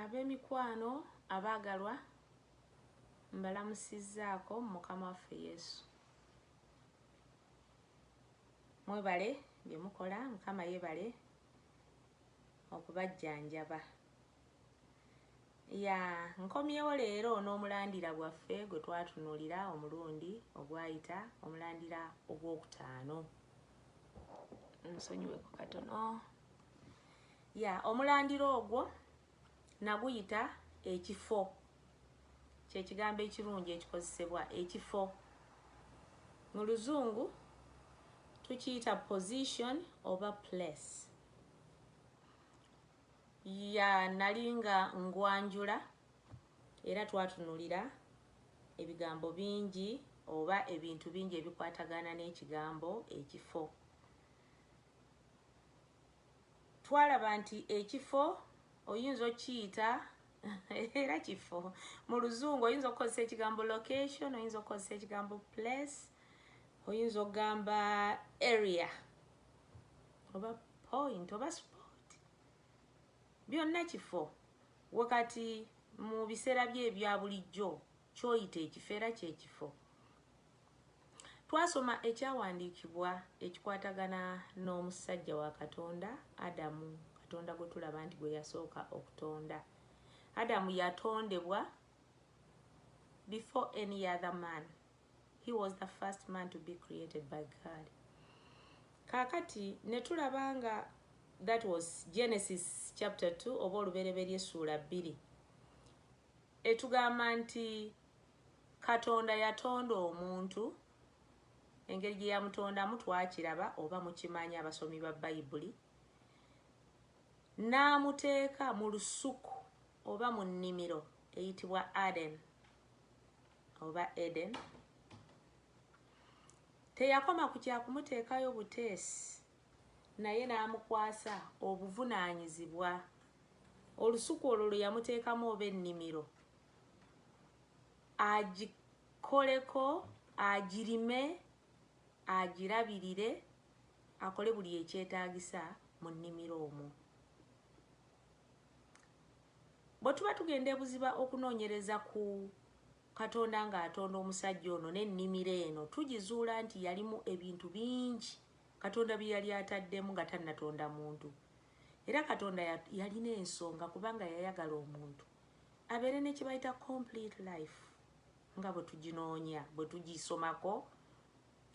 ab'emikwano abaagalwa mbalamusizzaako mukama waffe yesu mwebale bye mukola mukama yebale okubajjanjaba ya nkomyewo leero n'omulandira gwaffe gwe twatunulira omulundi ogwayita omulandira ogwokutaano nsonyiwe ku katono ya omulandira ogwo naguyita ekifo kyekigambo ekirungi ekikozesebwa ekifo mu luzungu tukiyita position oba place ya nali nga ngwanjula era twatunulira ebigambo bingi oba ebintu bingi ebikwatagana n'ekigambo ekifo twalaba nti ekifo oyinza okiyita era kifo mu luzungu oyinza okukozesa ekigambo location oyinza okukozesa ekigambo place oyinza okugamba area oba point oba spot Byonna kifo. We kati mu biseera bye ebya bulijjo ky'oyita ekifo era kye kifo. Twasoma ekyawandiikibwa ekikwatagana n'omusajja wa Katonda, Adamu, Katonda gwe tulaba nti gwe yasooka okutonda. Adamu yatondebwa before any other man. He was the first man to be created by God. Kakati netulaba nga that was Genesis chapter 2 oba olubereberye suula bbiri etugamba nti Katonda yatonda omuntu engeri gye yamutondamu twakiraba oba mukimanyi abasomi ba Bayibuli n'amuteeka mu lusuku oba mu nnimiro eyitibwa Aden. oba Eden teyakoma ku kya kumuteekayo buteesi naye n'amukwasa obuvunaanyizibwa olusuku olwo lwe yamuteekamu oba ennimiro agikoleko agirime agirabirire akole buli ekyetaagisa mu nnimiro omwo Bwe tuba tugenda e buziba okunoonyereza ku Katonda ng'atonda omusajja ono n'ennimiro eno, tugizuula nti yalimu ebintu bingi Katonda bye yali ataddemu nga tannatonda muntu. Era Katonda yalina ensonga kubanga yayagala omuntu abeere ne kye bayita complete life nga bwe tuginoonya bwe tugisomako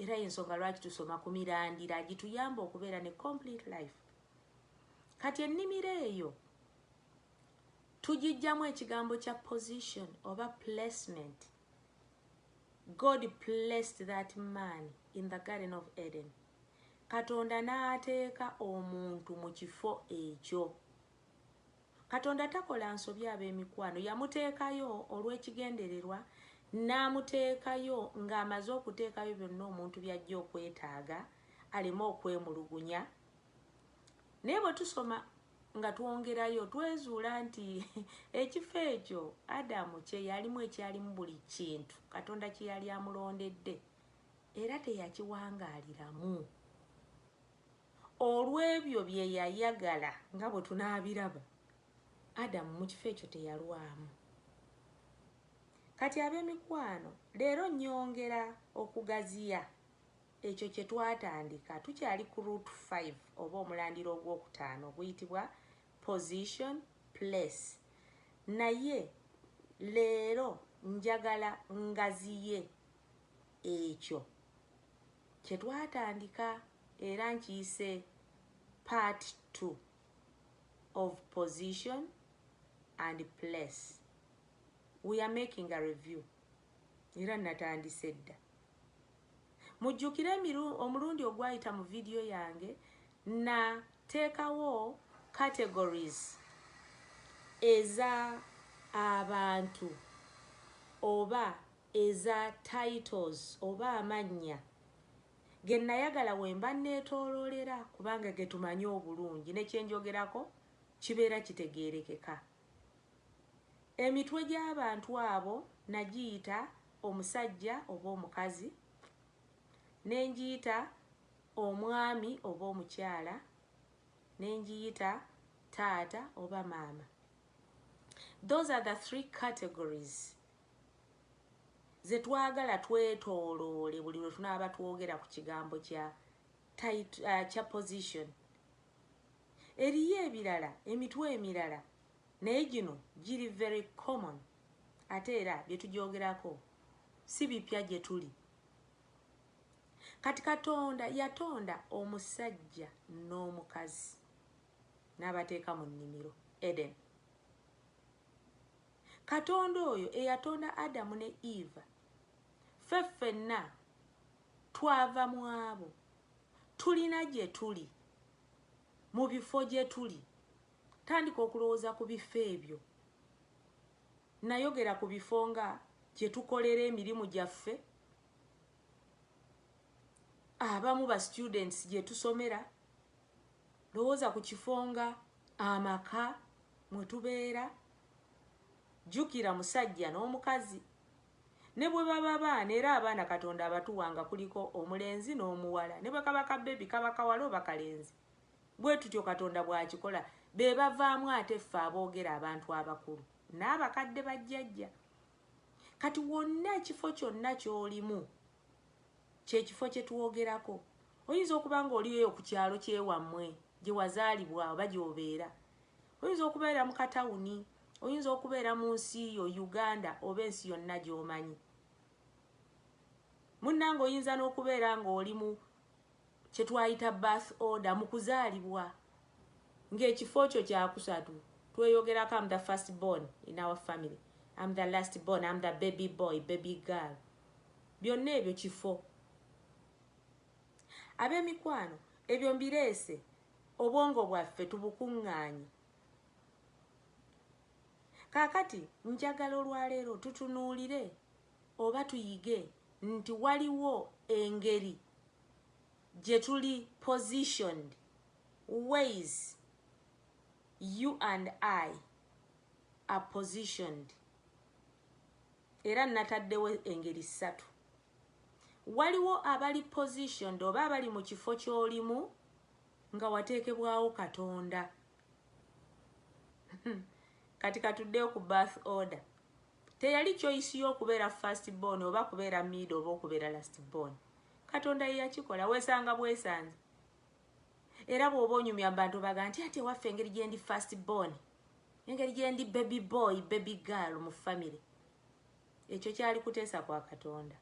era y'ensonga lwaki tusoma ku mirandira gituyamba okubeera ne complete life kati ennimiro eyo tugijjamu ekigambo kya position oba placement god placed that man in the garden of eden katonda n'ateeka omuntu mu kifo ekyo katonda takola nsobi ab'emikwano yamuteekayo olw'ekigendererwa n'amuteekayo ng'amaze okuteekayo byonna omuntu by'ajja okwetaaga aleme okwemulugunya naye bwe tusoma nga twongerayo twezuula nti ekifo ekyo adamu kye yalimu ekyalimu buli kintu katonda kye yali amulondedde era teyakiwangaaliramu olw'ebyo bye yayagala nga bwe tunaabiraba adamu mu kifo ekyo teyalwamu kati ab'emikwano leero nyongera okugaziya Ekyo kye twatandika. Tukyali ku root five oba omulandira ogw'okutaano oguyitibwa position, place. Naye leero njagala ngaziye ekyo kye twatandika era nkiyise part two of position and place. We are making a review era natandise dda. Mujjukire emiru, omulundi ogwayita mu vidiyo yange nateekawo categories eza abantu oba eza titles oba amannya ge nayagala we mba neetooloolera kubanga ge tumanyi obulungi ne kye njogerako kibeera kitegeerekeka. Emitwe gy'abantu abo nagiyita omusajja oba omukazi, ne ngiyita omwami oba omukyala, ne ngiyita taata oba maama. Those are the three categories ze twagala twetooloole buli lwe tunaaba twogera ku kigambo kya, uh, kya position Eriyo ebirala emitwe emirala naye gino giri very common ate era bye tugyogerako si bipya gye tuli. Kati Katonda yatonda omusajja n'omukazi n'abateeka mu nnimiro Eden. Katonda oyo eyatonda Adamu ne Eva ffe ffenna twava mu abo Tulina gye tuli, mu bifo gye tuli. Tandika okulowooza ku bifo ebyo. Nnayogera ku bifo nga gye tukolera emirimu gyaffe, abamu ba students gye tusomera. Lowooza ku kifo nga amaka mwe tubeera. Jjukira musajja n'omukazi Ne bwe baba baana, era abaana Katonda abatuwa nga kuliko omulenzi n'omuwala, ne bwe kaba ka bbebi, kaba kawala oba kalenzi. Bwe tutyo Katonda bw'akikola. Be bavaamu ate ffe aboogera, abantu abakulu, n'abakadde, bajjajja. Kati wonna, ekifo kyonna ky'olimu, kye kifo kye twogerako. Oyinza okuba nga oli eyo ku kyalo ky'ewammwe, gye wazaalibwa oba gy'obeera. Oyinza okubeera mu katawuni, oyinza okubeera mu nsi yo Uganda oba ensi yonna gy'omanyi. Munnange oyinza n'okubeera ng'oli mu kye twayita birth order mu kuzaalibwa ng'ekifo kyo kyakusatu tweyogerako am the first born in our family am the last born am the baby boy baby girl byonna ebyo kifo ab'emikwano ebyo mbireese Obwongo bwaffe tubukuŋŋaanye. Kaakati, njagala olwaleero tutunuulire, oba tuyige, nti waliwo engeri gye tuli positioned, ways you and I are positioned. Era nnataddewo engeri ssatu. Waliwo abali positioned oba abali mu kifo ky'olimu nga wateekebwawo Katonda. Kati katuddeyo ku birth order. Teyali choice y'okubeera first born oba kubeera mid oba okubeera last born. Katonda ye yakikola weesanga bwesanze. Era bw'oba onyumya bantu obaga nti ate waffe engeri gyendi first born. Engeri gyendi baby boy, baby girl mu family. Ekyo kyali kuteesa kwa Katonda.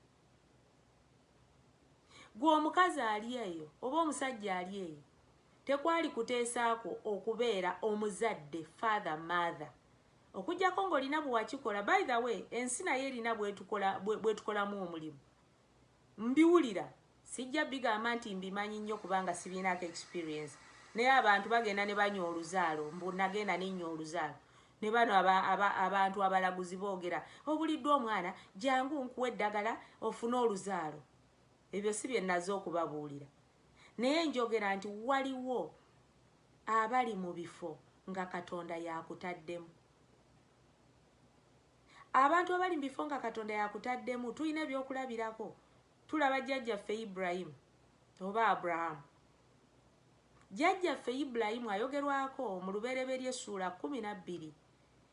Gwe omukazi ali eyo oba omusajja ali eyo, tekwali kuteesa kwo okubeera omuzadde, father, mother. Okujjako nga olina bwewakikola, by the way ensi nayo erina bwetukolamu omulimu. Mbiwulira, sijja bigamba nti mbimanyi nnyo kubanga sibirinaako experience, naye abantu bagenda ne banywa oluzaalo, mbu nagenda ne nnywa oluzaalo, ne bano aba, aba, abantu abalaguzi boogera, obuliddwa omwana, jangu nkuwe eddagala ofune oluzaalo. Ebyo si bye nnaze okubabuulira. Naye njogera nti waliwo abali mu bifo nga Katonda y'akutaddemu. Abantu abali mu bifo nga Katonda yakutaddemu tulina ebyokulabirako. Tulaba jjajjaffe Ibulayimu oba Abrahaamu. Jjajjaffe Ibulayimu ayogerwako mu Lubereberye essuula kkumi na bbiri.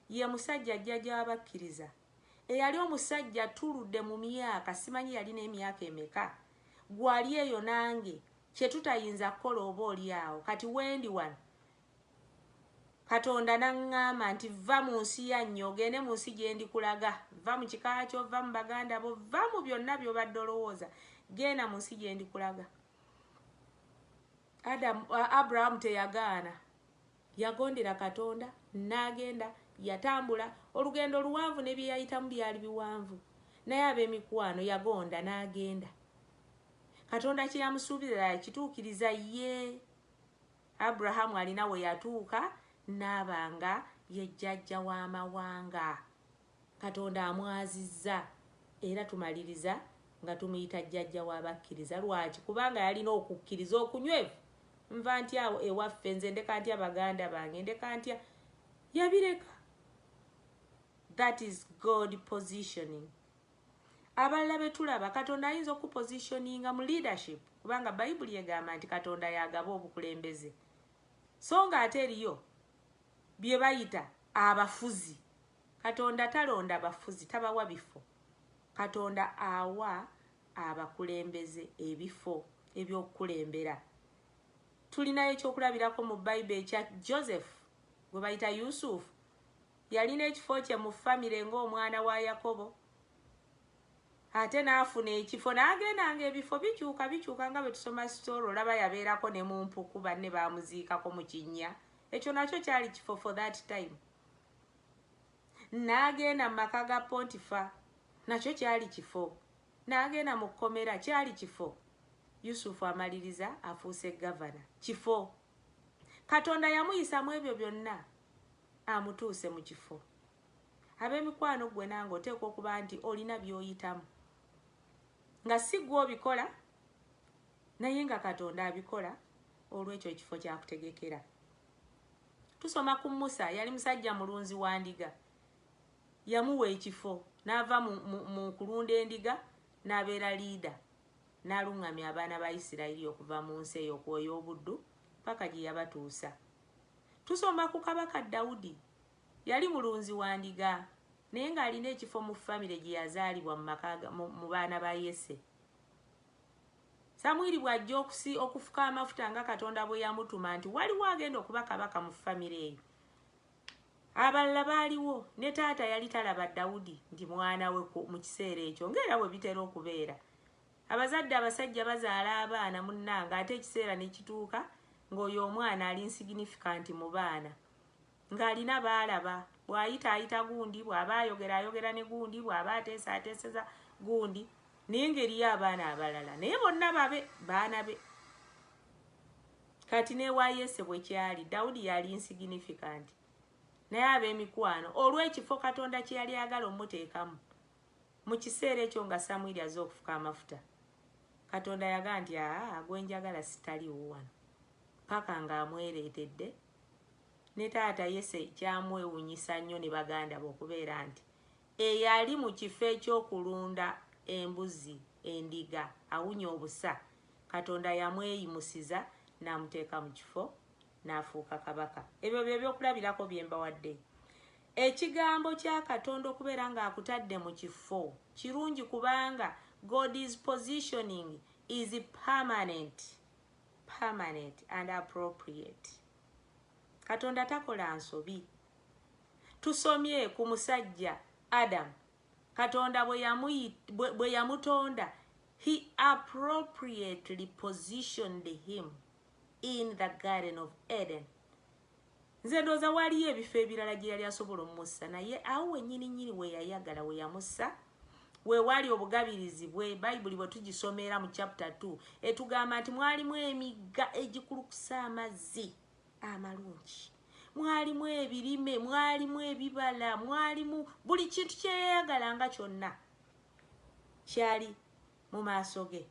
Ye musajja jjajja w'abakkiriza. Eyali omusajja attuludde mu myaka, simanyi yalina emyaka emeka, ggwe ali eyo nange, kye tutayinza kukola oba oli awo kati wendi wano Katonda n'aŋŋamba nti, Vva mu nsi yanyu, ogende mu nsi gye ndikulaga. Vva mu kika kyo, vva mu baganda bo, vva mu byonna by'obadde olowooza, genda mu nsi gye ndikulaga. Adamu, Abraham teyagaana. Yagondera Katonda, n'agenda, yatambula. Olugendo luwanvu ne bye yayitamu byali biwanvu. Naye ab'emikwano, yagonda n'agenda. Katonda kye yamusuubiza yakituukiriza? Yee. Abraham alina we yatuuka n'aba nga ye jjajja w'amawanga. Katonda amwazizza era tumaliriza nga tumuyita jjajja w'abakkiriza. Lwaki? Kubanga yalina okukkiriza okunywevu. Nva ntya awo ewaffe? Nze ndeka ntya baganda bange? Ndeka ntya? Yabireka. That is God positioning. abalala betulaba katonda ayinza okupositioninga mu leadership kubanga bayibuli egamba nti katonda yagaba obukulembeze so nga ate eriyo byebayita abafuzi katonda talonda bafuzi tabawa bifo katonda awa abakulembeze ebifo ebyokukulembera tulinayo ekyokulabirako mu bayibe ekya joseph gwe bayita yusufu Yalina ekifo kye mu famire ng'omwana wa Yakobo, ate n'afuna ekifo n'agenda ng'ebifo bikyuka bikyuka nga bwe tusoma sitoori olaba yabeerako ne mu mpuku banne baamuziikako mu kinnya ekyo nakyo kyali kifo for that time n'agenda mu maka ga pontifa nakyo kyali kifo n'agenda mu kkomera kyali kifo yusufu amaliriza afuuse gavana kifo katonda yamuyisa mu ebyo byonna amutuuse mu kifo. Ab'emikwano ggwe nange oteekwa okuba nti olina by'oyitamu nga si ggwe obikola naye nga Katonda abikola olw'ekyo ekifo kyakutegekera. Tusoma ku Musa, yali musajja mulunzi wa ndiga. Yamuwa ekifo n'ava mu, mu, mu kulunda endiga n'abeera liida n'aluŋŋamya abaana ba Isirayiri okuva mu nsi eyo kw'oyo obuddu paka gye yabatuusa. Tusoma ku Kabaka Dawudi. Yali mulunzi wa ndiga naye ng'alina ekifo mu famire gye yazaalibwa mu baana ba Yese. Samwiri bw'ajja okufuka amafuta nga Katonda bwe yamutuma nti waliwo agenda okuba kabaka mu famire eyo. Abalala baaliwo ne taata yali talaba Dawudi nti mwana we mu kiseera ekyo ng'era bwe bitera okubeera. Abazadde abasajja bazaala abaana munnange ate ekiseera ne kituuka ng'oyo omwana ali nsiginifikanti mu baana ng'alina b'alaba. Bw'ayita ayita gundi, bw'aba ayogera ayogera ne gundi, bw'aba ateesa ateeseza gundi naye ng'eriyo abaana abalala naye bonna babe baana be. Kati n'ewa Yese bwe kyali, Dawudi yali nsiginifikanti naye ab'emikwano olw'ekifo Katonda kye yali ayagala omuteekamu Mu kiseera ekyo nga Samwiri azze okufuka amafuta, Katonda yagamba nti, Aa, gwe njagala sitali wuwano. Ppaka nga amwereetedde. Ne taata Yese kyamwewunyisa nnyo ne baganda be okubeera nti eyali mu kifo eky'okulunda embuzi, endiga, awunya obusa, Katonda yamweyimusiza n'amuteeka mu kifo n'afuuka kabaka. Ebyo bye byokulabirako bye mbawadde. Ekigambo kya Katonda okubeera ng'akutadde mu kifo kirungi kubanga God is positioning is permanent, permanent and appropriate. Katonda takola nsobi. Tusomye ku musajja Adam. Katonda bwe yamutonda, he appropriately positioned him. in the garden of eden nze ndooza waliyo ebifo ebirala gye yali asobola omussa naye awo wenyini nyini weyayagala weyamussa wewaali obugabirizi bwe bayibuli bwe tugisomera mu chapter 2 etugamba nti mwalimu emigga egikulukusa amazzi amalungi mwalimu ebirime mwalimu ebibala mwalimu buli kintu kyeyayagalanga kyonna kyali mu maaso ge.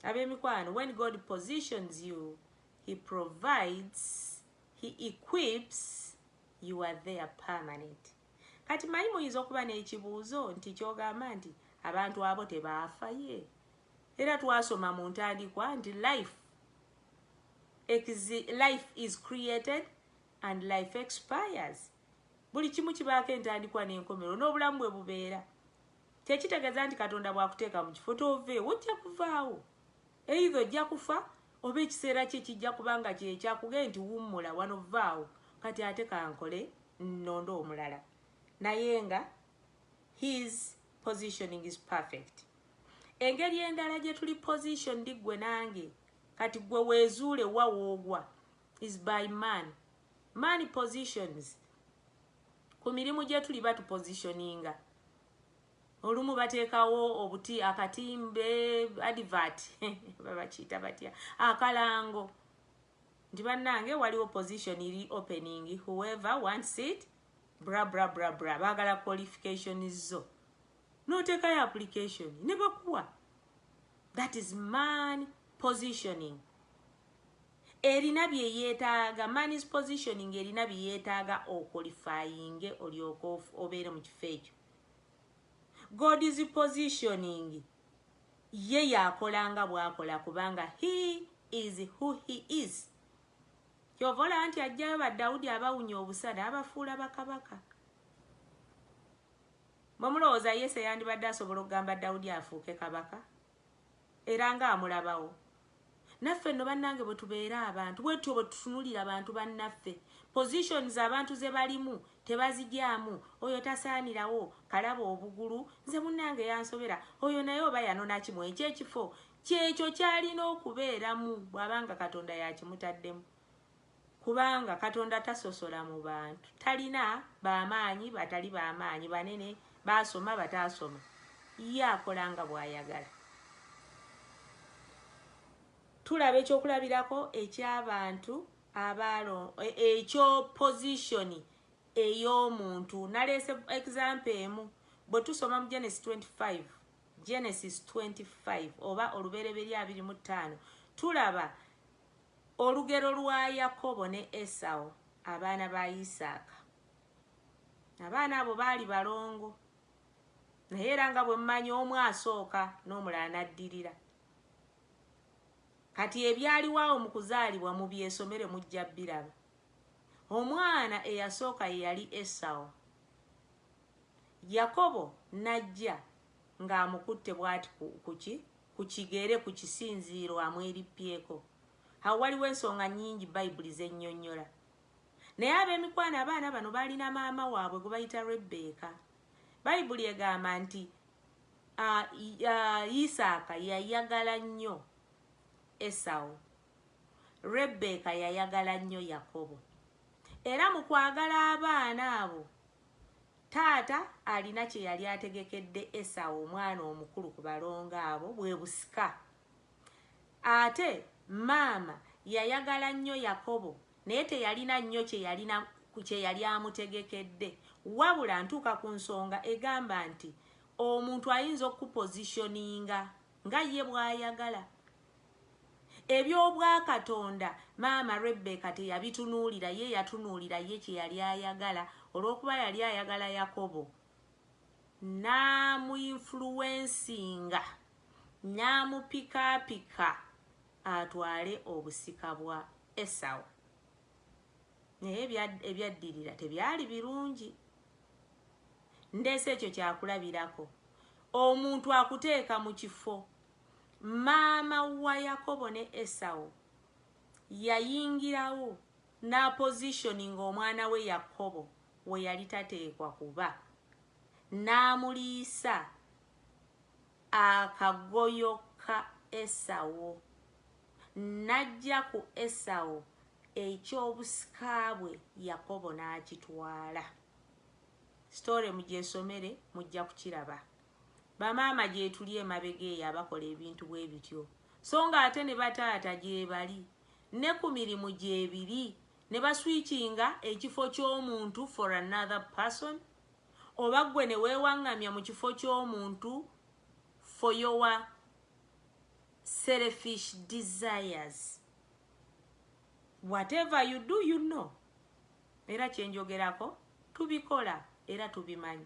Ab'emikwano, when God positions you, He provides, He equips, you are there permanent. Kati manyi muyinza okuba n'ekibuuzo nti kyogamba nti abantu abo tebaafa ye era twasoma mu ntandikwa nti life life is created and life expires buli kimu kibaako entandikwa n'enkomerero n'obulamu bwe bubeera Tekitegeza nti Katonda bwakuteeka mu kifo tove wojja kuvaawo. Either ojja kufa oba ekiseera kye kijja kuba nga kye kyakugee nti wummula wano vvaawo kati ate kankole nnonde omulala. Naye nga his positioning is perfect. Engeri endala gye tuli positioned ggwe nange kati ggwe weezuule wa woogwa is by man Many positions ku mirimu gyetuli batu positioninga olumu bateekawo obuti akatimbe advert babakiita batya akalango nti bannange waliwo position iri opening whoever wants it bra bra bra bra baagala qualification zo n'oteekayo application ne bakuwa that is man positioning Erina bye yeetaaga, man's positioning erina bye yeetaaga okolifayinge olyoke obeere mu kifo ekyo. God's positioning ye y'akola nga bw'akola kubanga he is who he is. Ky'ova olaba nti ajjayo ba Dawudi abawunya obusa n'abafuula bakabaka. Mwe mulowooza Yese yandibadde asobola okugamba Dawudi afuuke kabaka? Era ng'amulabawo. Naffe nno banange bwetubeera abantu bwetutyo bwetutunulira bantu banaffe positions abantu zebalimu tebazigyamu oyo tasaanirawo kalaba obugulu nze munange yansobera oyo naye oba yanonaki mwekyo ekifo kyekyo kyalina okubeeramu bwabanga katonda yakimutaddemu. Kubanga Katonda tasosola mu bantu. Talina ba maanyi, batali ba maanyi, banene, baasoma, bataasoma. Ye akola nga bw'ayagala. Tulaba eky'okulabirako eky'abantu abaalo, e, ekyo pozishoni ey'omuntu. Naleese egizampo emu. Bwe tusoma mu Genesis 25, Genesis 25 oba olubereberye abiri mu ttaano tulaba Olugero lwa Yakobo ne Esawo, abaana ba Isaaka. Abaana abo baali balongo, naye era nga bwe mumanyi omu asooka n'omulala n'addirira. Kati ebyaliwo awo mu kuzaalibwa mubyesomere mujja biraba. Omwana eyasooka ye yali Esawo. Yakobo n'ajja nga amukutte bwati ku kuki ku kigere ku kisinziiro amwerippyeko. Awo waliwo ensonga nnyingi Bayibuli z'ennyonnyola. Naye ab'emikwano abaana bano baalina maama waabwe gwe bayita Rebbeeka. Bayibuli egamba nti Isaaka yayagala nnyo Esawu. Rebbeeka yayagala nnyo Yakobo. Era mu kwagala abaana abo Taata alina kye yali ategekedde Esawu omwana omukulu ku balongo abo, bwe busika. Ate maama yayagala nnyo Yakobo, naye teyalina nnyo kye yalina kye yali amutegekedde. Wabula ntuuka ku nsonga egamba nti omuntu ayinza okukupozitioninga nga ye bw'ayagala. Eby'Obwakatonda, maama Rebbeeka teyabitunuulira ye, yatunuulira ye kye yali ayagala. Olw'okuba yali ayagala Yakobo, n'amuinfuluwensinga, n'amupikaapika atwale obusika bwa Esawu. Naye ebyaddirira tebyali birungi. Ndeese ekyo kyakulabirako. Omuntu akuteeka mu kifo Maama wa Yakobo ne Esawu yayingirawo n'apositioninga omwana we Yakobo we yali tateekwa kuba, n'amuliisa akagoyo ka Esawu, n'aggya ku Esawu eky'obusika bwe Yakobo n'akitwala. Sitore mugyesomere mujja kukiraba. Bamaama gyetuli emabega eyo abakola ebintu bwebityo so nga ate ne bataata gyebali ne ku mirimu gyebiri ne ba switchinga ekifo ky'omuntu for another person oba ggwe ne weewaŋŋamya mu kifo ky'omuntu for your selfish desires. Whatever you do you know. Era kye njogerako tubikola era tubimanyi.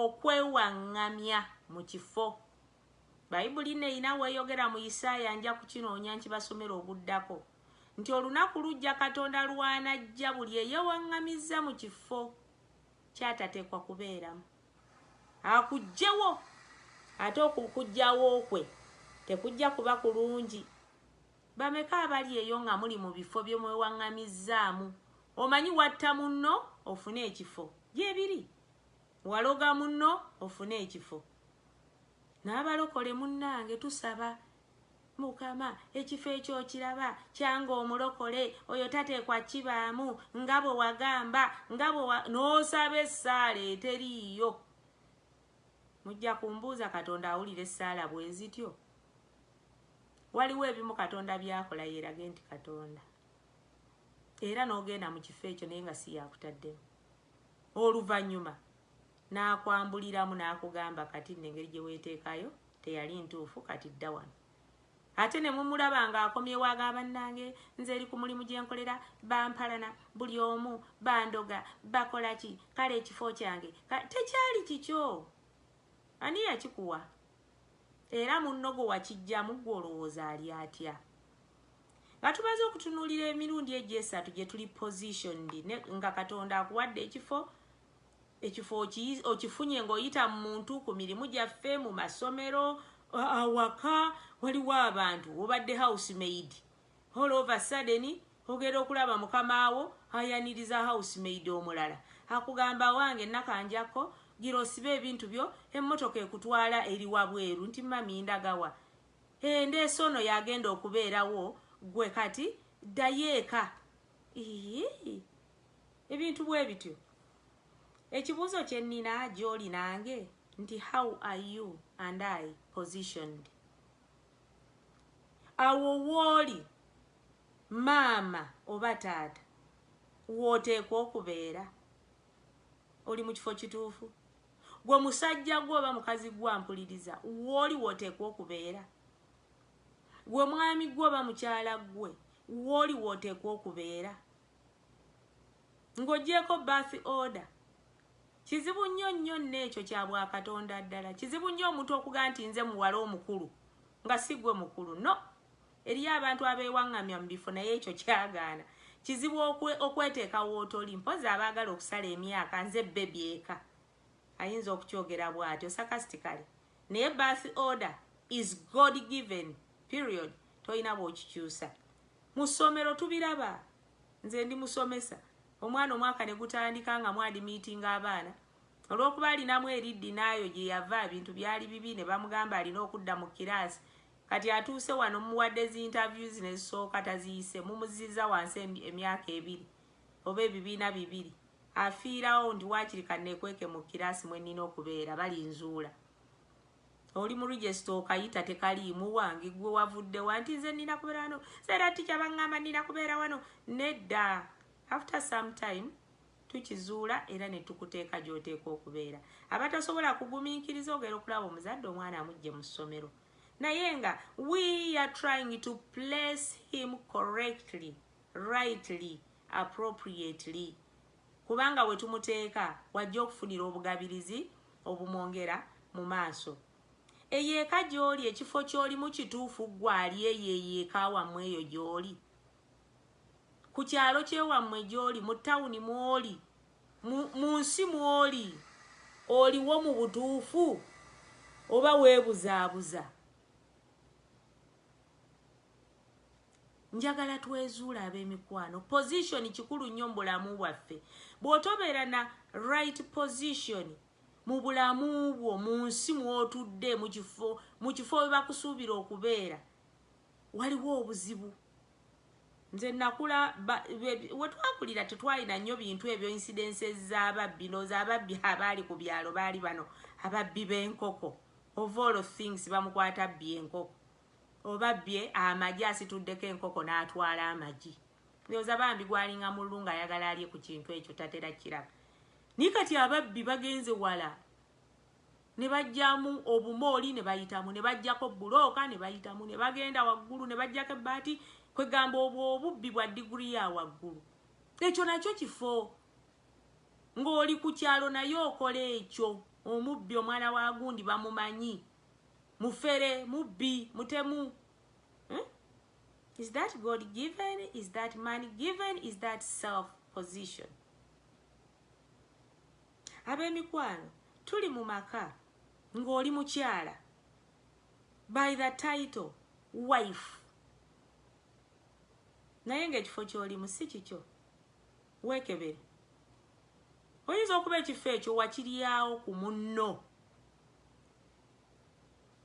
Okwewaŋŋamya mu kifo. Baibuli nno erina w'eyogera mu Isaaya, nja kukinoonya nkibasomere oguddako, nti olunaku lujja Katonda lw'anajja buli eyewaŋŋamizza mu kifo ky'atateekwa kubeeramu, akuggyewo. Ate okuggyawo kwe tekujja kuba kulungi. Bameka abali eyo nga muli mu bifo bye mwewaŋŋamizzaamu, omanyi, watta munno ofune ekifo? Gyebiri. Waloga munno ofune ekifo. Nabalokole munange tusaba mukama ekifo ekyo okiraba kyanga omulokole oyo tatekwa kibaamu nga bwe wagamba nga bwe n'osaba essaala eteriiyo mujja kumbuuza katonda awulira essaala bwezityo waliwo ebimu katonda byakola yerage nti katonda era n'ogenda mu kifo ekyo naye nga si yakutaddemu Oluvannyuma n'akwambuliramu n'akugamba kati nno engeri gye weeteekayo teyali ntuufu kati dda wano. Ate ne mumulaba ng'akomyewo aga bannange nze eri ku mulimu gye nkolera bampalana buli omu bandoga bakola ki kale ekifo kyange tekyali kikyo ani yakikuwa? Era munno gwe wakiggyamu ggwe olowooza ali atya? Nga tumaze okutunuulira emirundi egyo esatu gye tuli positioned nga Katonda akuwadde ekifo, ekifo okifunye ng'oyita mu muntu, ku mirimu gyaffe, mu masomero, awaka, waliwo abantu, obadde house maid, All over sudden ogera okulaba mukama wo ayaniriza house maid omulala akugamba awange nakanjja ko gira osibe ebintu byo emmotoka ekutwala eri wabweru nti mummy ndaga wa? Eeh ndeese ono yagenda okubeera wo gwe kati ddayo eka iihii ebintu bwebityo Ekibuuzo kyennina gyoli nange nti how are you and I positioned? awo wooli maama oba taata wooteekwa okubeera oli mu kifo kituufu gwe musajja gwe oba mukazi gwe ampuliriza wooli wooteekwa okubeera gwe mwami gwe oba mukyala gwe wooli wooteekwa okubeera ng'ogyeko bath order Kizibu nnyo nnyo nno ekyo kya bwa Katonda ddala. Kizibu nnyo omuntu okugamba nti nze muwala omukulu nga si gwe mukulu. No. Eriyo abantu abeewaŋŋamya mu bifo naye ekyo kyagaana. Kizibu okwe, okweteeka w'otoli. Mpozzi abaagala okusala emyaka, nze bbebi eka. Ayinza okukyogera bw'atyo, sarcastically. Naye birth order is God given. Period. Tolina bw'okikyusa. Mu ssomero tubiraba. Nze ndi musomesa. Omwana omwaka ne gutandika nga mw'adimiitinga abaana. Olw'okuba alinamu eriddi n'ayo gye yava ebintu byali bibi ne bamugamba alina okudda mu kiraasi. Kati atuuse wano mmuwadde zi interviews ne zisooka taziyise mumuzzizza wansi emyaka ebiri oba ebibiina bibiri afiirawo nti waakiri kanneekweke mu kiraasi mwe nnina okubeera balinzuula. Oli mu register okayita tekaliimu wangi gwe wavudde wanti nze nina kubera wano zera tikya bangamba nina kubera wano nedda after some time tukizuula era netukuteeka gyoteeka okubeera abatasobola kugumiikiriza ogera okulaba omuzadde omwana amujje mu ssomero naye nga we are trying to place him correctly rightly appropriately kubanga we tumuteeka w'ajja okufunira obugabirizi obumwongera mu maaso. Eyo eka gy'oli, ekifo ky'olimu kituufu ggwe ali eyo, eyo eka wammwe eyo gy'oli, ku kyalo ky'ewammwe gy'oli, mu tawuni mw'oli, mu nsi mw'oli, oliwo mu butuufu oba weebuzaabuza? njagala twezuula ab'emikwano position kikulu nnyo mu bulamu bwaffe bw'otobeera na right position mu bulamu bwo mu nsi mw'otudde mu kifo mu kifo we bakusuubira okubeera waliwo obuzibu nze nakula we twakulira tetwalina nnyo bintu ebyo insidense z'ababbi ndooza ababbi abaali ku byalo baali bano ababbi b'enkoko of all things bamukwata bbi enkoko Oba bye amagi asituddeko enkoko natwala amagi ndowoza bambi gwalinga mululu nga ayagala alye ku kintu ekyo tatera kiraba naye kati ababbi bagenze wala ne bajjamu obumooli ne bayitamu ne bajjako bulooka ne bayitamu ne bagenda waggulu ne bajjako ebbaati kwegamba obwo obubbi bwa diguri ya waggulu ekyo nakyo kifo ng'oli ku kyalo naye okola ekyo omubbi omwana wa gundi bamumanyi mufere mubbi mutemu hmm? is that god given is that man given is that self position ab'emikwano tuli mu maka ng'oli mukyala by the title wife naye ng'ekifo ky'olimu si kikyo weekebere oyinza okuba ekifo ekyo wakiryawo ku munno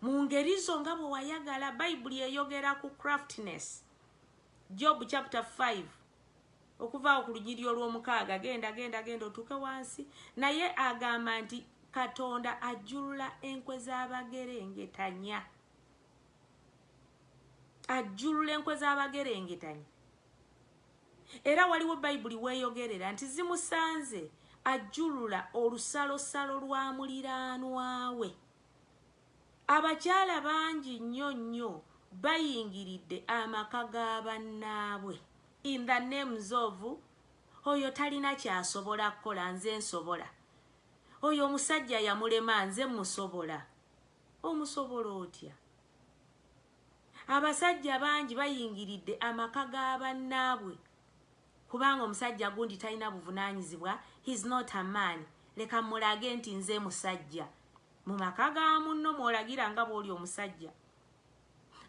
mu ngeri zo nga bwe wayagala bayibuli eyogera ku craftness job chapter 5 okuvaawo ku lunyiriri olw'omukaaga genda genda genda otuuke wansi naye agamba nti katonda ajjulula enkwe z'abagerengetanya ajjulula enkwe z'abagerengetanya Era waliwo Bayibuli w'eyogerera nti zimusanze ajjulula olusalosalo lwa muliraanwa we. Abakyala bangi nnyo nnyo bayingiridde amaka ga bannaabwe in the names of oyo talina kyasobola kukola nze nsobola, oyo omusajja yamulema nze mmusobola. Omusobola otya? Abasajja bangi bayingiridde amaka ga bannaabwe kubanga omusajja gundi talina buvunaanyizibwa, he's not a man, leka mmulage nti nze musajja. Mu maka ga munno mw'olagira nga bw'oli omusajja.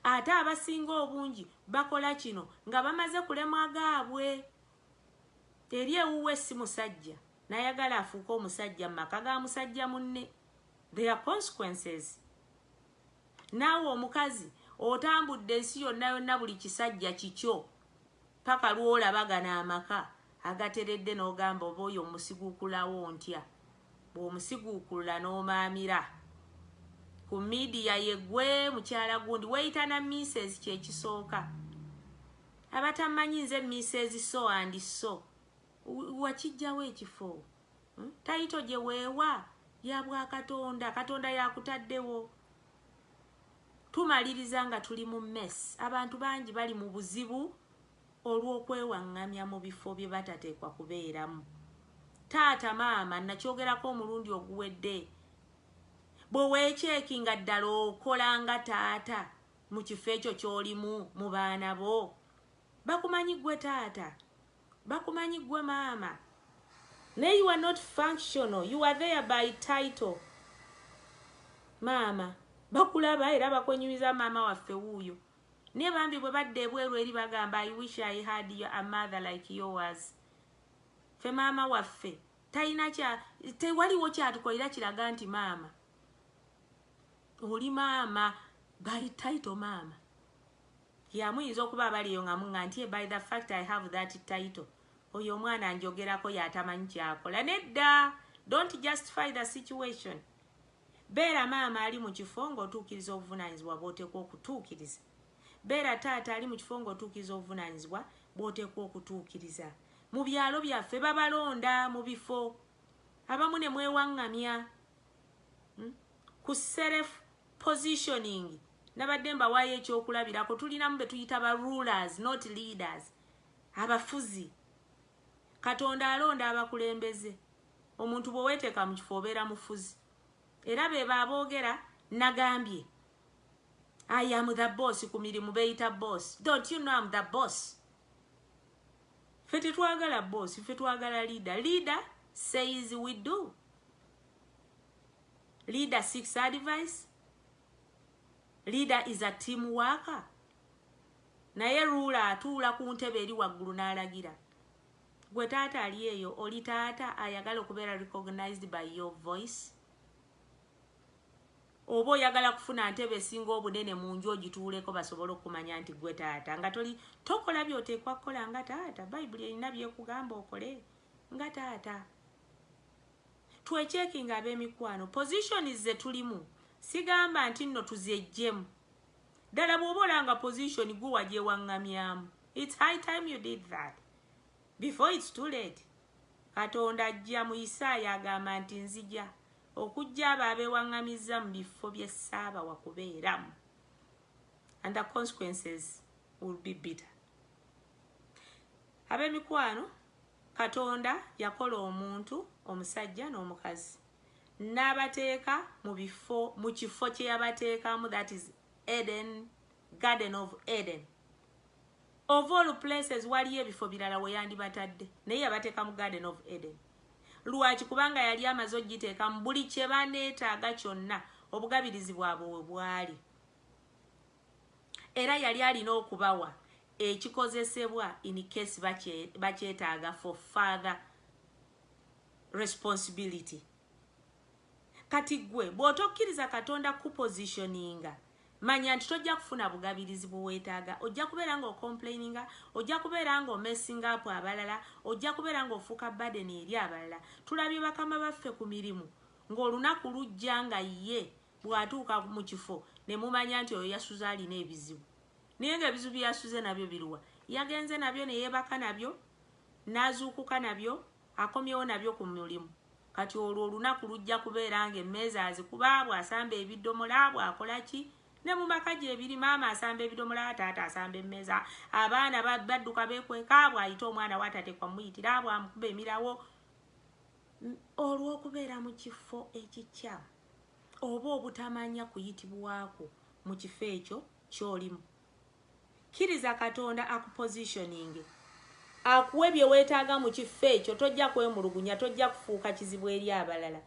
Ate abasinga obungi bakola kino nga bamaze kulemwa gaabwe. Eri ewuwe si musajja n'ayagala afuuke omusajja mu maka ga musajja munne. There are consequences. Naawe omukazi otambudde ensi yonna yonna buli kisajja kikyo paka lwolaba gano amaka agateredde nogamba oba oyo omusigukulawo ontya bwomusigukulula nomaamira Ku media ye gwe mukyala gundi weyita na miisezi kyekisooka abatamanyi nze miisezi so and so wakijjawa ekifo Hmm? Tayito gye weewa ya bwa Katonda. Katonda yakutaddewo. Tumaliriza nga tuli mu mess. Abantu bangi bali mu buzibu olw'okwewaŋŋamya mu bifo bye batateekwa kubeeramu. Taata maama nakyogerako omulundi oguwedde bwe weekyeki nga ddala okola nga taata mu kifo ekyo ky'olimu mu baana bo bakumanyi gwe taata Bakumanyi gwe maama naye you are not functional you are there by title maama bakulaba era bakwenyumiza maama waffe wuuyo naye bambi bwe badda ebweru eri bagamba i wish i had your, a mother like yours fe maama waffe talina kya tewaliwo kyatukolera kiraga nti maama oli maama by title maama Yeah muyinza okuba abali eyo nga munga ntie by the fact I have that title oyo omwana njogerako yatamanyi kyakola nedda don't justify the situation beera maama ali mu kifo ng'otuukiriza obuvunaanyizibwa bw'oteekwa okutuukiriza beera taata ali mu kifo ng'otuukiriza obuvunaanyizibwa bw'oteekwa okutuukiriza mu byalo byaffe babalonda mu bifo abamu ne mwewaŋŋamya hmm? ku serefu Positioning nabadde mbawaayo ekyokulabirako tulinamu betuyita ba rulers not leaders abafuzi katonda alonda abakulembeze omuntu bweweteeka mu kifo obeera mufuzi era bebo aboogera nagambye i am the boss ku mirimu beyita boss don't you know am the boss fe tetwagala boss fe twagala leader leader says we do Leader seeks advice. Leader is a team worker. Naye ruula atuula ku ntebe eri waggulu n'alagira. Gwe taata ali eyo oli taata ayagala okubeera recognized by your voice. Oba oyagala kufuna ntebe esinga obunene mu nju ogituuleko basobole okumanya nti gwe taata nga toli tokola by'oteekwa kukola nga taata bayibuli erina byekugamba okole nga taata. Twecheckinge abemikwano positions zetulimu sigamba ntinno tuzejjemu ddala bwoba olanga position gwe wagyewangamyamu it's high time you did that before it's too late katonda ajja mu isaaya agamba nti nzija okujja abo abewangamizza mu biffo byessaaba wakubeeramu and the consequences will be bitter abemikwano Katonda yakola omuntu, omusajja n'omukazi, n'abateeka mu bifo, mu kifo kye yabateekamu, that is Eden, Garden of Eden. Of all places waliyo ebifo birala we yandibatadde, naye yabateeka mu Garden of Eden. Lwaki? Kubanga yali amaze okugiteeka mu buli kye baneetaaga kyonna, obugabirizi bwabwe we bwali. Era yali alina okubawa ekikozesebwa in case bakyetaaga for further responsibility. Kati gwe bw'otokkiriza Katonda kukupositioninga manya nti tojja kufuna bugabirizi bwe weetaaga. Ojja kubeera ng'ocomplaininga, ojja kubeera ng'omessinga apu abalala, ojja kubeera ng'ofuuka badeni eri abalala. Tulabye bakama baffe ku mirimu ng'olunaku lujja nga ye Bw'atuuka mu kifo ne mumanya nti oyo yasuze alina ebizibu. Naye ng'ebizibu bye yasuze nabyo biruwa? Yagenze nabyo ne yeebaka nabyo, n'azuukuka nabyo, akomyewo nabyo ku mulimu. Kati olwo olunaku lujja kubeera ng'emmeeza azikuba, bw'asamba ebidomola, bw'akola ki? Ne mu maka gyebiri, maama asamba ebidomola, taata asamba emmeeza, abaana badduka beekweka, bw'ayita omwana w'atateekwa kumuyitira, bw'amukuba emirawo, olw'okubeera mu kifo ekikyamu. oba obutamanya kuyitibwa kwo mu kifo ekyo ky'olimu. Kkiriza Katonda akupoziishoninge, akuwe bye weetaaga mu kifo ekyo. Tojja kwemulugunya, tojja kufuuka kizibu eri abalala.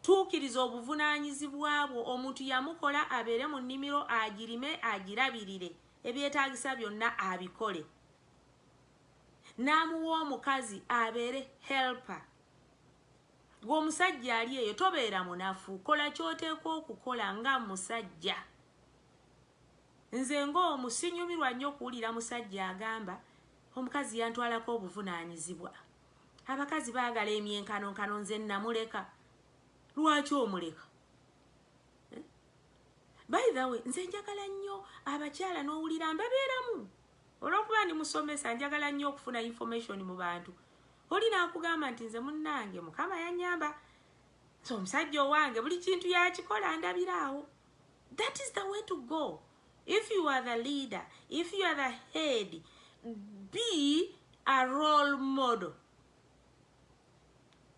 Tuukiriza obuvunaanyizibwa bwo. Omuntu yamukola abeere mu nnimiro, agirime, agirabirire, ebyetaagisa byonna abikole. N'amuwa omukazi abeere helper. Gwe omusajja ali eyo tobeera munafu kola kyoteekwa okukola nga musajja. Nze ng'omu sinyumirwa nnyo kuwulira musajja agamba omukazi yantwalako obuvunaanyizibwa. Abakazi baagala emyenkanonkano nze namuleka. Lwaki omuleka? By the way, nze njagala nnyo abakyala n'owulira mbabeeramu Olwokuba ndi musomesa njagala nyo okufuna information mu bantu. Oli nakugamba nti nze munnange mukama yanyamba. So omusajja owange buli kintu yakikola ndabira awo. That is the way to go. If you are the leader, if you are the head, be a role model.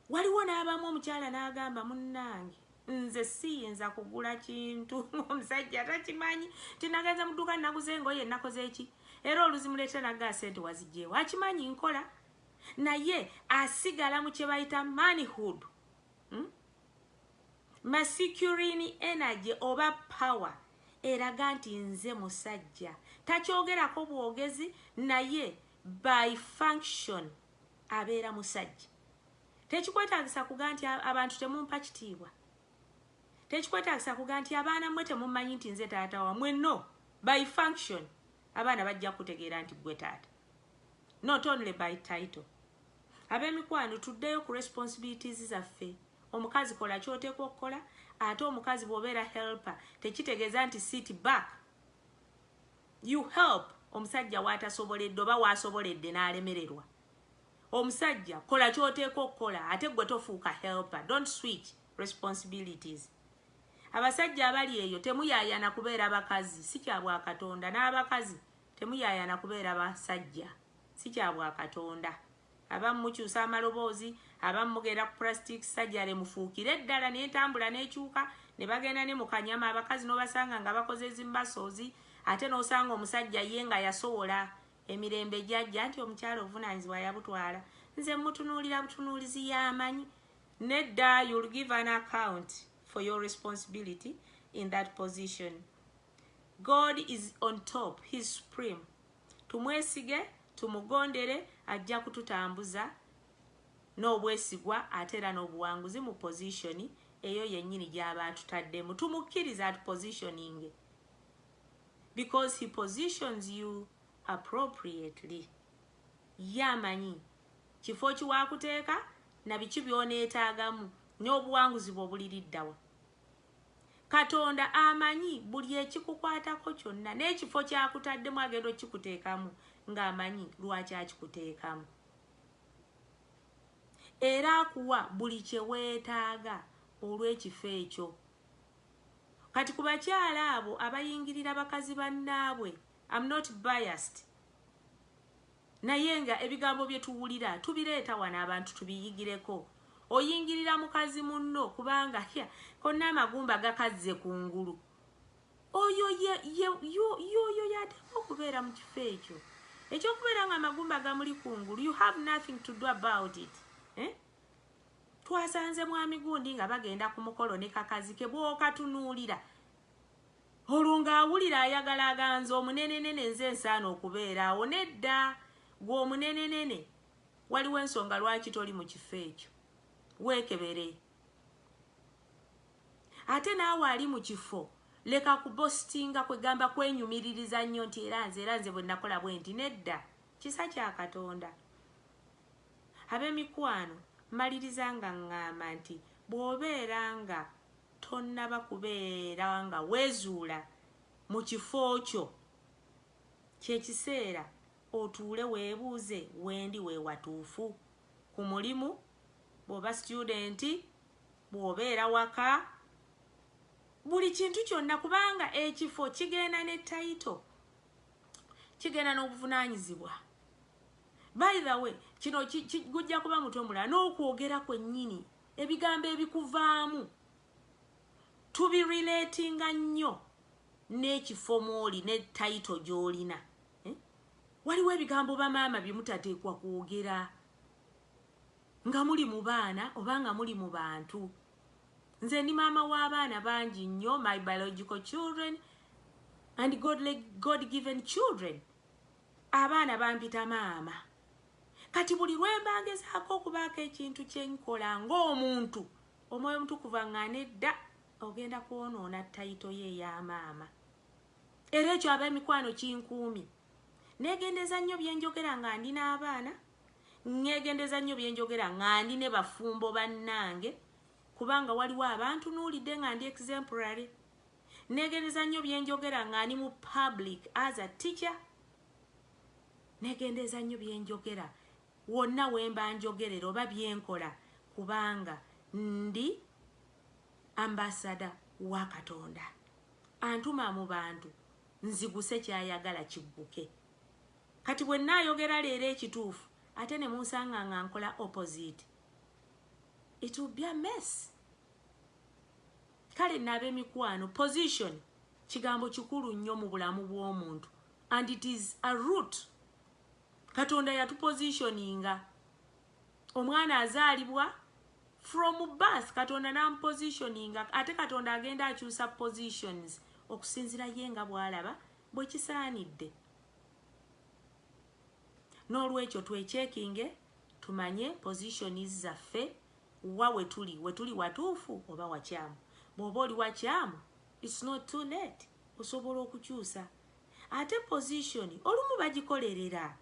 waliwo n'abamu omukyala n'agamba munnange nze siyinza kugula kintu omusajja takimanyi tinagenze mu dduuka naguze engoye nakoze eki era oluzimuleetera naggaa sente wazigyewo akimanyi nkola naye asigala mu kye bayita manhood hmm? masicurini energy oba power eraga nti nze musajja takyogerako bwogezi naye by function abeera musajja tekikwetagisa kuga nti abantu temumpa kitiibwa tekikwetagisa kuga nti abaana mwe temumanyi nti nze taata wamwe no by function abaana bajja kutegeera nti gwe taata not only by title abemikwano tuddeyo ku responsibilities zaffe omukazi kola kyoteekwa okukola ate omukazi bwobeera helper tekitegeeza nti sit back You help omusajja watasoboledde oba wasoboledde nalemererwa omusajja kola kyoteeka okukola ate gwe tofuuka helper don't switch responsibilities abasajja abali eyo temuyayana kubeera bakazi si kya bwakatonda n'abakazi temuyayana kubeera basajja si kya bwakatonda abamu mukyusa amaloboozi abamu mugenda ku plastic surgery mufuukire eddala nentambula nekyuka ne bagenda ne mu kanyama abakazi n'obasanga nga bakoze zi muscles ate n'osanga omusajja ye nga yasowola emirembe gyajja nti omukyala obuvunaanyizibwa yabutwala nze mutunuulira butunuulizi y'amanyi nedda you'll give an account for your responsibility in that position god is on top his supreme Tumwesige, tumugondere, ajja kututambuza n'obwesigwa ate era n'obuwanguzi mu pozishoni eyo yennyini gy'aba atutaddemu. Tumukkirize atupozishoninge because he positions you appropriately. Ye amanyi kifo ki waakuteeka na biki by'oneetaagamu n'obuwanguzi bwo buliri dda wa. Katonda amanyi buli ekikukwatako kyonna, n'ekifo ky'akutaddemu agenda okukikuteekamu ng'amanyi lwaki akikuteekamu. Era akuwa buli kye weetaaga olw'ekifo ekyo. Kati ku bakyala abo abayingirira bakazi bannaabwe, am not biased. Naye nga ebigambo bye tuwulira tubireeta wano abantu tubiyigireko. Oyingirira mukazi munno kubanga hya konna amagumba gakazze ku ngulu. Oyo ye, ye, yo, yo, yo yateekwa okubeera mu kifo ekyo. Ekyokubeera nga amagumba gamuli ku ngulu, you have nothing to do about it. Eh? Twasanze mwami gundi nga bagenda ku mukolo ne kakazi ke bwokatunuulira. Olwo nga awulira ayagala aga nze omunenenene nze nsaana okubeera awo nedda gwe omunenenene waliwo ensonga lwaki toli mu kifo ekyo weekebere ate naawe ali mu kifo leka kubositinga kwegamba kwenyumiririza nnyo nti era nze era nze bwe nakola bwe nti nedda kisa kya katonda ab'emikwano mmaliriza nga ŋŋamba nti bw'obeera nga Tonnaba kubeera nga weezuula mu kifo kyo. Kye kiseera otuule weebuuze, Wendi we watuufu? Ku mulimu, bw'oba situyudenti, bw'obeera waka, buli kintu kyonna kubanga ekifo kigenda ne tayito, kigenda n'obuvunaanyizibwa. By the way, kino gujja kuba mutwe mulala n'okwogera kwennyini ebigambo ebikuvaamu tubirelatinga nnyo n'ekifo mwoli ne tayito gy'olina eh? waliwo ebigambo bamaama bye mutateekwa kwogera nga muli mu baana oba nga muli mu bantu nze ndi maama w'abaana bangi nnyo my biological children and god, god given children abaana bampita maama Kati buli lwe mba ngezaako okubaako ekintu kye nkola ng'omuntu, omwoyo omutukuvu aŋŋaana edda ogenda kwonoona tayito ye eya maama. Era ekyo ab'emikwano kinkuumye. Neegendereza nnyo bye njogera nga ndi n'abaana, nneegendereza nnyo bye njogera nga ndi ne bafumbo bannange, kubanga waliwo abantunuulidde nga ndi exemplary. Nneegendereza nnyo bye njogera nga ndi mu public as a teacher. Negendeeza nnyo bye njogera wonna we mba njogerera oba bye nkola kubanga ndi ambasada wa Katonda. Antuma mu bantu nziguse ky'ayagala kigguke. Kati bwe nnaayogera leero ekituufu ate ne munsanga nga nkola opposite, it will be a mess. Kale nno ab'emikwano, position kigambo kikulu nnyo mu bulamu bw'omuntu and it is a root katonda yatu positioninga omwana azaalibwa from birth katonda nam positioninga ate katonda agenda akyusa positions okusinzira ye nga bwalaba bwe kisaanidde n'olwekyo twekyekinge tumanye positions zaffe wa wetuli wetuli watuufu oba wakyamu bw'oba oli wakyamu It's not too late osobola okukyusa ate position olumu bagikolerera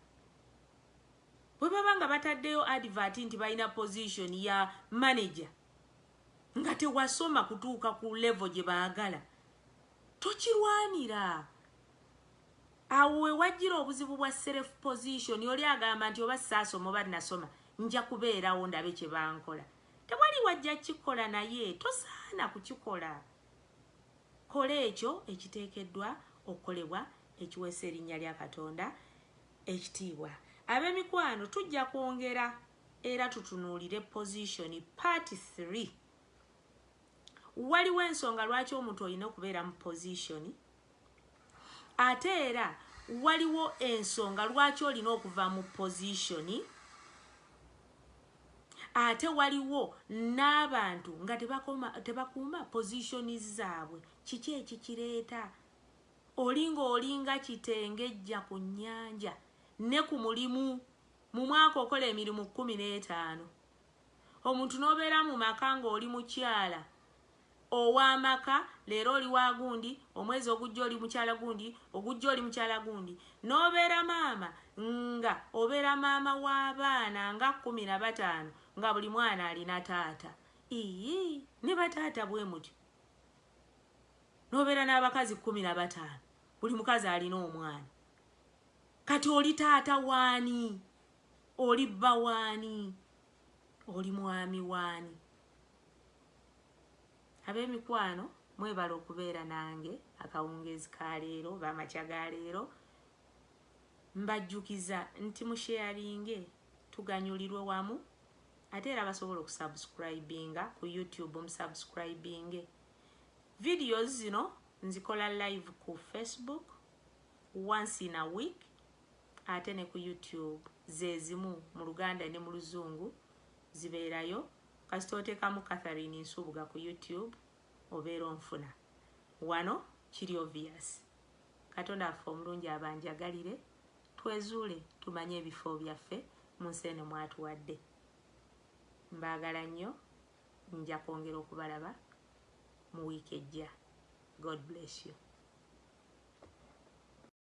bwebaba nga bataddeyo advert nti balina position ya manager nga tewasoma kutuuka ku level gye baagala tokirwanira awo wewajjira obuzibu bwa self position oli agamba nti oba saasoma oba nasoma nja kubeerawo ndabe kye bankola tewali wajja kikola naye tosaana kukikola Kola ekyo ekiteekeddwa okukolebwa ekiweesa erinnya lya Katonda ekitiibwa. Ab'emikwano, tujja kwongera era tutunuulire Position Part Three. Waliwo ensonga lwaki omuntu olina okubeera mu position Ate era waliwo ensonga lwaki olina okuva mu position ate waliwo n'abantu nga tebakuuma position zaabwe kiki ekikireeta oli ng'olinga kitengejja ku nnyanja ne ku mulimu mu mwaka okola emirimu kkumi n'etaano omuntu n'obeera mu maka ng'oli mukyala ow'amaka, leero oli wa gundi, omwezi ogujja oli mukyala gundi, ogujja oli mukyala gundi, n'obeera maama nga obeera maama w'abaana nga kkumi na bataano nga buli mwana alina taata. Iyii ne bataata bwe mutyo. N'obeera n'abakazi kkumi na bataano buli mukazi alina omwana. Kati oli taata waani? Oli bba waani? Oli mwami wani? Abemikwano mwebale okubeera nange akawungeezi ka leero oba amakya ga leero. Mbajjukiza nti mu sharinge tuganyulirwe wamu ate era basobola okusubscribinga ku YouTube musubscribinge. Videos zino nzikola live ku Facebook once in a week. ate ne ku YouTube zezimu mu luganda ne mu luzungu zibeerayo kasita otekamu Catherine Nsubuga ku YouTube obeera onfuna wano kiri obvious katonda waffe omulungi abanjagalire twezuule tumanye ebifo byaffe mu nsi eno mwatuwadde mbaagala nnyo nja kwongera okubalaba mu wiiki ejja god bless you